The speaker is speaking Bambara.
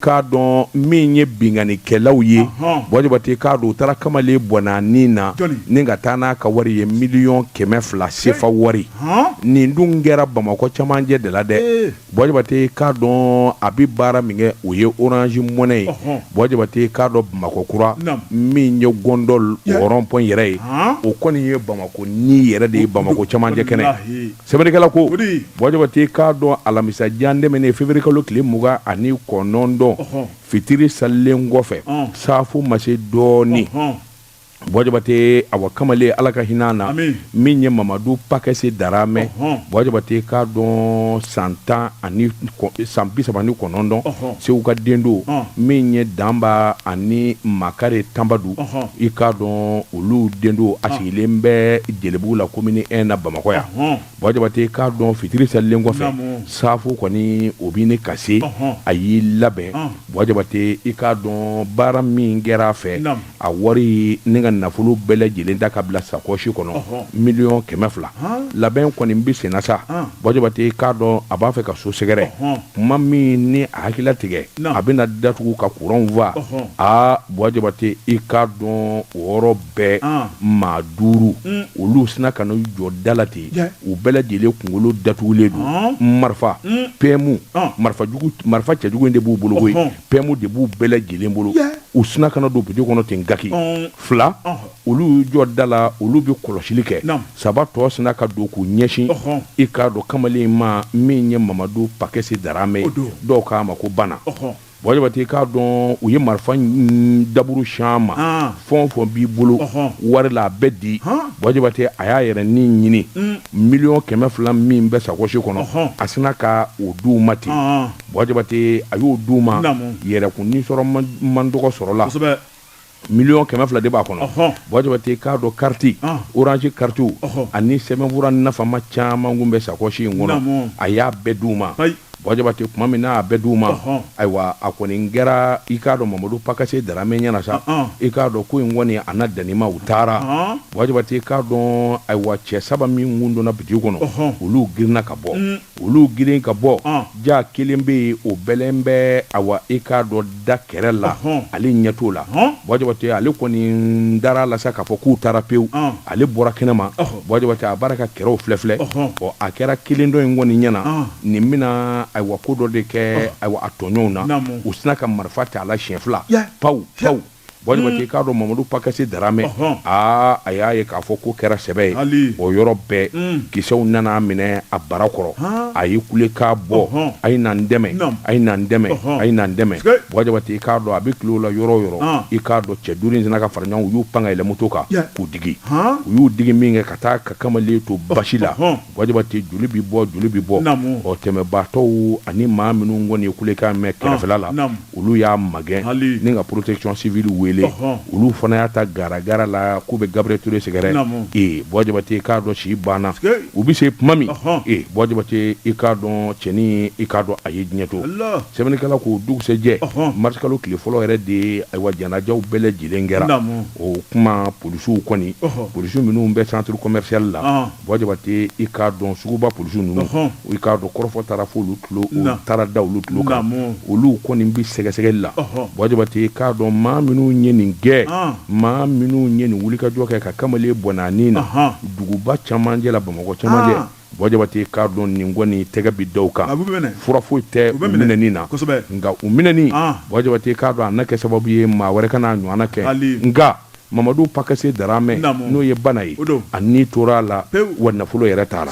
k'a dɔn min ye binkannikɛlaw ye bɔ jabatɛ i k'a dɔn u taara kamalen bɔnɛ a ni na ni ka taa n'a ka wari ye miliyɔn kɛmɛ fila sefa wari nin dun kɛra bamakɔ camancɛ de la dɛ bɔ jabatɛ i k'a dɔn a bɛ baara min kɛ o ye orange money ye bɔ jabatɛ i k'a dɔn bamakɔ kura min ye gɔndɔli rond-point yɛrɛ ye o kɔni ye bamakɔ ni yɛrɛ de ye bamakɔ camancɛ kɛnɛ Sɛbɛnnikɛla ko bɔ jabatɛ i k'a dɔn alamisa jan tɛmɛnen février kalo tile mugan ani kɔnɔntɔn fitiri salilen kɔfɛ safo ma se dɔɔnin bɔ jabatɛ awa kamalen ala ka hinɛ a na min ye mamadu pakɛse daramɛ bɔ jabatɛ i k'a dɔn san tan ani san bi saba ni kɔnɔntɔn segu ka den don min ye danba ani makari tanbadu i k'a dɔn olu den don a sigilen bɛ jelibugu la komini ɛn na bamakɔ yan bɔ jabatɛ i k'a dɔn fitiri selilen kɔfɛ safo kɔni o bɛ ɲini ka se a y'i labɛn bɔ jabatɛ i k'a dɔn baara min kɛra a fɛ a wari n'a ka nafolo bɛɛ lajɛlen ta ka bila sakɔsi kɔnɔ miliyɔn kɛmɛ fila labɛn kɔni bɛ senna sa bɔ jabatɛ i k'a dɔn a b'a fɛ ka so sɛgɛrɛ tuma min ni a hakili tigɛ a bɛna da tugu ka kuranw faa a bɔ jabatɛ i ka dɔn o yɔrɔ bɛɛ maa duuru olu sinna ka n'u jɔ da la ten u bɛɛ lajɛlen kunkolo datugulen don marifa pmu marifa marifa cɛjugu de b'u bolo pmu de b'u bɛɛ lajɛlen bolo u sinna ka na don bitiki kɔnɔ ten gaki fila olu jɔ da la olu bɛ kɔlɔsili kɛ saba tɔ sinna ka don k'u ɲɛsin i k'a dɔn kamalen ma min ye mamadu pakɛsi daramɛ dɔw k'a ma ko banna bɔ jabatɛ i k'a dɔn u ye marifa daburu sin a ma fɛn o fɛn b'i bolo wari la a bɛɛ di bɔ jabatɛ a y'a yɛrɛ ni ɲini miliyɔn kɛmɛ fila min bɛ sakɔsi kɔnɔ a sinna ka o di u ma ten bɔ jabatɛ a y'o di u ma yɛrɛkun sɔrɔ man dɔgɔ sɔrɔ la miliyɔn kɛmɛ fila de b'a kɔnɔ bɔ jabatɛ i k'a dɔn kariti orange kariti ani sɛbɛnfura nafama caman kun bɛ sakɔsi in kɔnɔ a y'a bɛɛ di u ma bɔ jabatɛ tuma min n'a bɛɛ di u ma ayiwa a kɔni kɛra i k'a dɔn mamadu pakɛse daramɛ ɲɛ na sa i k'a dɔn ko in kɔni a na dan nin ma u taara bɔ jabatɛ i k'a dɔn ayiwa cɛ saba min kun donna bitiki kɔnɔ olu girinna ka bɔ olu girin ka bɔ jaa kelen bɛ yen o bɛlɛn bɛ awa i k'a dɔn da kɛrɛ la ale ɲɛ t'o la bɔ jabatɛ ale kɔni dara a la sa k'a fɔ k'u taara pewu ale bɔra kɛnɛma bɔ jabatɛ a bɔra ka kɛrɛw filɛ filɛ ɔ a kɛra kelen tɔ in kɔni ɲɛ na nin bɛna ayiwa ko dɔ de kɛ a tɔɲɔgɔnw na u sinna ka marifa ta a la siɲɛ fila pawu pawu Buwa Jabate i k'a dɔn Mamadu pakɛsi Darame, ɔnhɔn, aa a y'a ye k'a fɔ k'o kɛra sɛbɛ ye, hali, o yɔrɔ bɛɛ, un, kisɛw nana a minɛ a bara kɔrɔ, han, a ye kulekan bɔ, ɔnhɔn, a ye na n dɛmɛ, naamu, a ye na n dɛmɛ, ɔnhɔn, a ye na n dɛmɛ, sikei, Buwa Jabate i k'a dɔn a bɛ kulo la yɔrɔ o yɔrɔ, an, i k'a dɔn cɛ duuru in sinna ka fara ɲɔgɔn kan u y'u pan ka yɛlɛ moto kan, ya, k'u digi, han, u y'u digi min kɛ ka taa ka kamalen to basi la, ɔnhɔn, Buwa Jabate joli bɛ bɔ joli bɛ bɔ, naamu, ɔ tɛmɛbaatɔw ani maa minnu kɔni ye kulekan mɛn kɛrɛfɛla la, naamu, naamu olu y'a magɛn Hali ni ka protection civile wele Ɔhɔn olu fana y'a ta garagara la k'u bɛ Gabriel Toure sɛgɛrɛ Naamu ee Buwa Jabate i k'a dɔn si banna Sikeyi u bɛ se tuma min Ɔhɔn ee Buwa Jabate i k'a dɔn cɛnin i k'a dɔn a ye diɲɛ to Ala sɛbɛnnikɛla ko o dugusɛjɛ Ɔhɔn mars kalo tile fɔlɔ yɛrɛ de ye ayiwa janajaw bɛɛ lajɛlen kɛra Naamu o tuma polisiw kɔni Ɔhɔn polisiw minnu bɛ centre commercial la Ɔnhɔn Buwa Jabate i k'a dɔn suguba polisi ninnu i k'a dɔn kɔrɔfɔ taara fo olu taara da olu tulo kan olu kɔni bɛ sɛgɛsɛgɛli la Buwa Jabate i k'a dɔn maa minnu ye nin gɛn maa minnu ye nin wulikajɔ kɛ ka kamalen bon duguba camancɛ la Bamakɔ camancɛ Buwa Jabate i k'a dɔn nin kɔni ni tɛgɛ bɛ da kan fura foyi tɛ u bɛ minɛn na nka u minɛlen Buwa Jabate i k'a dɔn a na kɛ sababu ye maa wɛrɛ kan'a ɲɔgɔn kɛ nka Mamadu pakase daramɛ n'o ye bana ye a ni tora a la wa nafolo yɛrɛ taara